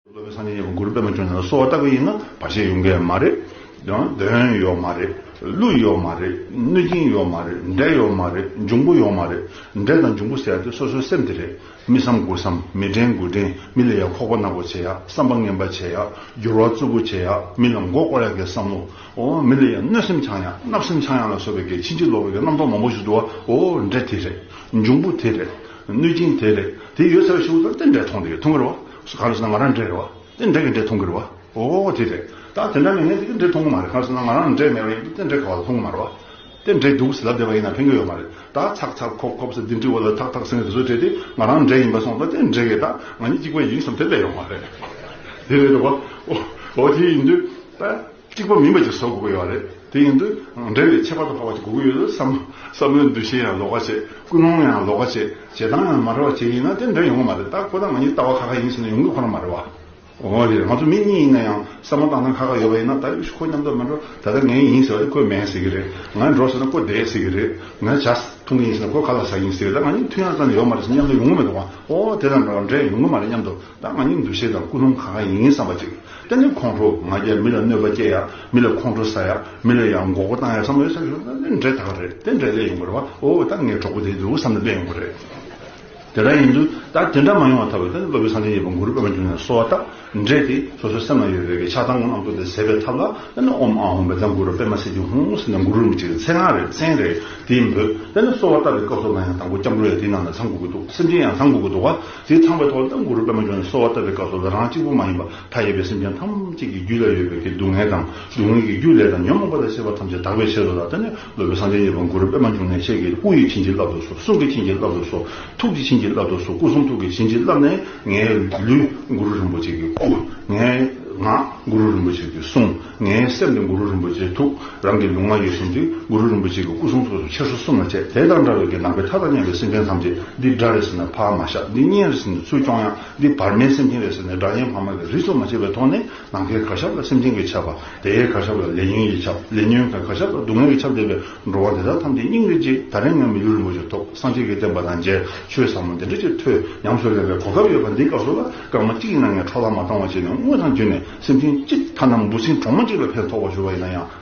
སློབ་དཔོན་སངས་རྒྱས་ཀྱི་མགུར་པད་མ་ཁྱོད་ནི་གསོལ་བ་བཏབ་པ་ཡིན་ན་བར་ཆད་ཡོང་གི་མ་རེད། གདོན་ཡོད་མ་རེད། ཀླུ་ཡོད་མ་རེད། གནོད་སྦྱིན་ཡོད་མ་རེད། འདྲེ་ཡོད་མ་རེད། འབྱུང་པོ་ཡོད་མ་རེད། འདྲེ་དང་འབྱུང་པོ་ཟེར་ཏེ་སོ་སོའི་སེམས་དེ་རེད། མི་བསམ་དགུ་བསམ། མི་དྲན་དགུ་དྲན། མི་ལ་ཡ་ཁོག་པ་ནག་པོ་བྱེད་ཡ། བསམ་པ་ངན་པ་བྱེད་ཡ། འགྱུར་བ་རྩུབ་པོ་བྱེད་ཡ། མི་ལ་མགོ་བསྐོར་ཡ་གི་བསམ་བློ། འོ་མི་ལ་ཡང་གནོད་སེམས་འཆང་ཡང་བརྣབ་སེམས་འཆང་ཡང་ལ་སོགས་པའི་བགེགས་ཕྱིན་ཅི་ལོག་པའི་རྣམ་རྟོག་མང་པོ་ཞིག་འདུ་བ་འོ་འདྲེ་དེ་རེད། འབྱུང་པོ་དེ་རེད། གནོད་སྦྱིན་དེ་རེད། དེ་ཡོད་ཚད་བ་ཞིག་འོ་དེ་འདྲས་མཐོང་དེ་འཐུང་གི་རེད་བ། གང་ལ་སོང་ན་ང་རང་འདྲས་རེད་བ། དེ་འདྲས་གི་འདྲས་མཐོང་གི་རེད་བ། འོ་དེ་རེད། ད་དེ་འདྲ་མེད་ངས་དེ་གི་འདྲས་མཐོང་གི་མ་རེད་གང་ལ་སོང་ན་ང་རང་འདྲས་མེད་པ་ཡིན་དུ་དེ་འདྲས་ག་བ་ལ་མཐོང་གི་མ་རེད་བ། དེ་འདྲའི་སྡུག་ཟ་བདེ་བ་ཡིན་ན་ཕན་གྱི་ཡོད་མ་རེད་ད་ཚག་ཚག་ཁོག་ཁོག་ཟེར་འདི་འདྲི་བ་ལ་ཐག་ཐག་ཟིན་རེ་བཟོ་བྱས་ཏེ་ང་རང་འདྲེ་ཡིན་པ་སོང་ད་དེ་འདྲེ་ཡིན་ད་ང་གཉིས་གཅིག་པ་ཡིན་བསམ་དེ་ལས་ཡོང་བ་རེད་དེ་རེད་བ་འོ་དེ་ཡིན་དུས་ད་གཅིག་པ་མིན་པ་ཅིག་བཟོ་དགོས་ཀྱི་ཡོད་རེད་དེ་ཡིན་དུས་འདྲེ་ལས་ཁྱད་པར་དུ་འཕགས་པ་ཅིག་དགོས་ཀྱི་ཡོད་དུས་བསམ་བསམ་བློའི་འདུ་ཤེས་ཡང་ལོག་ཁ་བྱེད་ཀུན་སློང་ཡང་ལོག་ཁ་བྱེད་བྱེད་སྟངས་ཡང་མ་རེད་བ་བྱེད་ཡིན་ན་དེ་འདྲེ་ཡོང་གི་མ་རེད་ད་ཁོ་ད་ང་གཉིས་ལྟ་བ་ཁ་ཁ་ཡིན་ཟེར་ན་ཡོང་གི་ཁོ་ན་མ་རེད་བ། ཨོ་རེད་ང་ཚོ་མི་གཉིས་ཡིན་ན་ཡང་བསམ་བློ་བཏང་ན་ཁག་ཁག་ཡོད་པ་ཡིན་ན་ད་ཡོད་ཤི་ཁོ་མཉམ་དུ་མ་འགྲོ་ད་ལྟ་ངའི་ཡིན་ཟེར་བ་དེ་ཁོའི་མེད་ཟེར་གྱི་རེད་ང་འགྲོ་ཟེར་ན་ཁོ་བསྡད་ཟེར་གྱི་རེད་ང་བྱ་ཐུབ་ངེས་ཡིན་ཟེར་ན་ཁོ་ག་ལ་བྱ་ཡིན་ཟེར་གྱི་ད་ང་གཉིས་མཐུན་ཡང་ཙམ་ཡོད་མ་རེད་ཟེར་ན་མཉམ་དུ་ཡོང་གི་མེད་འདུག་ཨོ་དེ་དང་འདྲ་བར་འདྲེས་ཡོང་གི་མ་རེད་སྙམ་དུ་ད་ང་གཉིས་འདུ་ཤེས་དང་ཀུན་སློང་ག་ག་ཡིན་བསམ་པ་ཅིག་གཏན་ནས་ཁོང་ཁྲོ་ང་རྒྱལ་མི་ལ་གནོད་པ་སྐྱེལ་ཡ་མི་ལ་ཁོང་ཁྲོ་ཟ་ཡ་མི་ལ་ཡང་མགོ་སྐོར་བཏང་ཡ་བསམ་བློ་ཡོད་ཚད་ཞུ་ན་འདྲེས་ད་ག་རེད་དེ་འདྲེས་ལས་ཡོང་གི་རེད་བ་ཨོ་ད་ངའི་གྲོགས་པོ་དེ་འདུག་བསམ་ནས་བསྡད་ཡོང་གི་རེད། དེ་འདྲ་ཡིན་དུས་ད་དེ་འདྲ་མ་ཡོང་བ་ཐ་བས་ད་སློབ་དཔོན་ས་ཆེན་གྱི་བང་གུ་རུ་སྤེལ་བར་འགྱུར་ནས་སོ་བ་དག་འདྲེས་ཏེ་སོ་སོའི་སེམས་ལ་ཡོད་པའི་ཆགས་སྡང་རྣམས་བཀྲུ་ཏེ་ཟད་པའི་ཐབས་ལ་དཔེར་ན་ཨོམ་ཨ་ཧོམ་པས་ད་གུ་རུ་སྤེལ་མ་ཟེར་གྱི་ཧོང་ཟེར་ནས་གུ་རུ་རིན་པོ་ཆེ་གི་མཚན་སྔགས་རེ་མཚན་རེ་དེ་འབོད་དཔེར་ན་སོ་བ་བཏབ་པའི་སྐབས་སོགས་ལ་ཡང་དང་པོ་སྐྱབས་འགྲོ་ཡང་དེའི་ནང་ལ་ཚང་གུ་གུ་འདུག་སེམས་ཅན་ཡང་ཚང་གུ་གུ་འདུག་བ་དེ་ཚང་པའི་ཐོག་ལ་ད་གུ་རུ་སྤེལ་མ་འབྱོར་ནས་སོ་བ་བཏབ་པའི་སྐབས་སོགས་ལ་རང་གཅིག་པུ་མ་ཡིན་པར་མཐའ་ཡས་པའི་སེམས་ཅན་ཐམས་ཅད་ཀྱི་རྒྱུད་ལ་ཡོད་པའི་དེ་སྡུག་བསྔལ་དང་སྡུག་བསྔལ་གྱི་རྒྱུ་ལས་དང་ཉོན་མོངས་པ་ལས་སེར་བ་ཐམས་ཅད་དག་པའི་ཕྱིར་རོ་ལ་ད་ནི་ནོར་བུ་སངས་རྒྱས་ཉེར་དགུ་རུ་པདྨ་འབྱུང་གནས་ཆེ་གེ་སྐུ་ཡི་བྱིན་གྱིས་བརླབ་ཏུ་གསོལ་གསུང་གི་བྱིན་གྱིས་བརླབ་ཏུ་གསོལ་ཐུགས་ཀྱི་བྱིན་གྱིས་བརླབ་ཏུ་གསོལ་སྐུ་གསུང་ཐུགས་ཀྱི་བྱིན་གྱིས་བརླབས་ནས་ངའི་ལུས་གུ་རུ་རིན་པོ་ཆེ་གི་སྐུ། ངའི་ངག་གུ་རུ་རིན་པོ་ཆེ་གི་གསུང། ངའི་སེམས་ནི་གུ་རུ་རིན་པོ་ཆེའི་ཐུགས། རང་གི་ལུས་ངག་ཡིད་གསུམ་གྱི་གུ་རུ་རིན་པོ་ཆེ་གི་སྐུ་གསུང་ཐུགས་སུ་ཆེར་སོ་གསུམ་ལ་བྱས་དེ་དང་འདྲ་བའི་གྱི་ནང་པའི་མཐའ་དང་མཉམ་པའི་སེམས་ཅན་ཐམས་ཅད་འདི་སྒྲ་རེ་ཟིན་ན་འཕགས་མ་ཤ་འདི་སྙན་རེ་ཟིན་ནས་ཚུལ་སྐྱོང་ཡང་འདི་བར་མའི་སེམས་ཅན་རེ་ཟིན་ནས་སྒྲ་སྙན་འཕགས་མ་གི་རིས་སུ་མ་ཆད་པའི་ཐོག་ནས་ནམ་མཁའི་མཁའ་ཁྱབ་ལ་སེམས་ཅན་གྱི་ཁྱབ། དེའི་མཁའ་ཁྱབ་ལ་ལས་ཉོན་གྱི་ཁྱབ། ལས་ཉོན་གྱི་མཁའ་ཁྱབ་ལ་སྡུག་བསྔལ་གྱི་ཁྱབ་འདས་པའི་འགྲོ་བ་དེ་དག་ཐམས་ཅད་སྙིང་རེ་རྗེ་ད་རེས་ང་མི་ལུས་རིན་པོ་ཆེ་ཐོབ་སངས་རྒྱས་ཀྱི་བསྟན་པ་དང་མཇལ་ཆོས་ཟབ་མོ་འདི་འདྲ་ཅིག་ཐོས་ཉམས་སུ་ལེན་པའི་གོ་སྐབས་ཡོད་པ་འདིའི་སྐབས་སུ་ལ་སྐར་མ་གཅིག་ཡིན་ན་ངས་འཕྲོ་བརླག་མ་བཏང་བ་བྱས་ནས་དངུལ་དང་བརྒྱུད་ནས་སེམས་ཅན་གཅིག་ཐ་ན་འབུ་སྲིན་གྲོག་མ་གཅིག་ལ་ཕན་ཐོགས་པ་ཞུ་བ་ཡིན་ན་ཡང།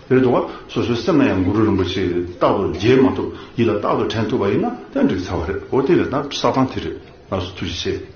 རེད་འདུག་ག་སོ་སོའི་སེམས་ལ་ཡང་གུ་རུ་རིན་པོ་ཆེ་རྟག་ཏུ་མཇལ་མ་ཐུབ་ཡིད་ལ་རྟག་ཏུ་དྲན་ཐུབ་པ་ཡིན་ན་ཡང་འགྲིག་ཚར་བ་རེད་འོ་དེ་ལས་ད་ས་ཐང་དེ་རེད་ལགས་སོ་ཐུགས་རྗེ་ཆེ།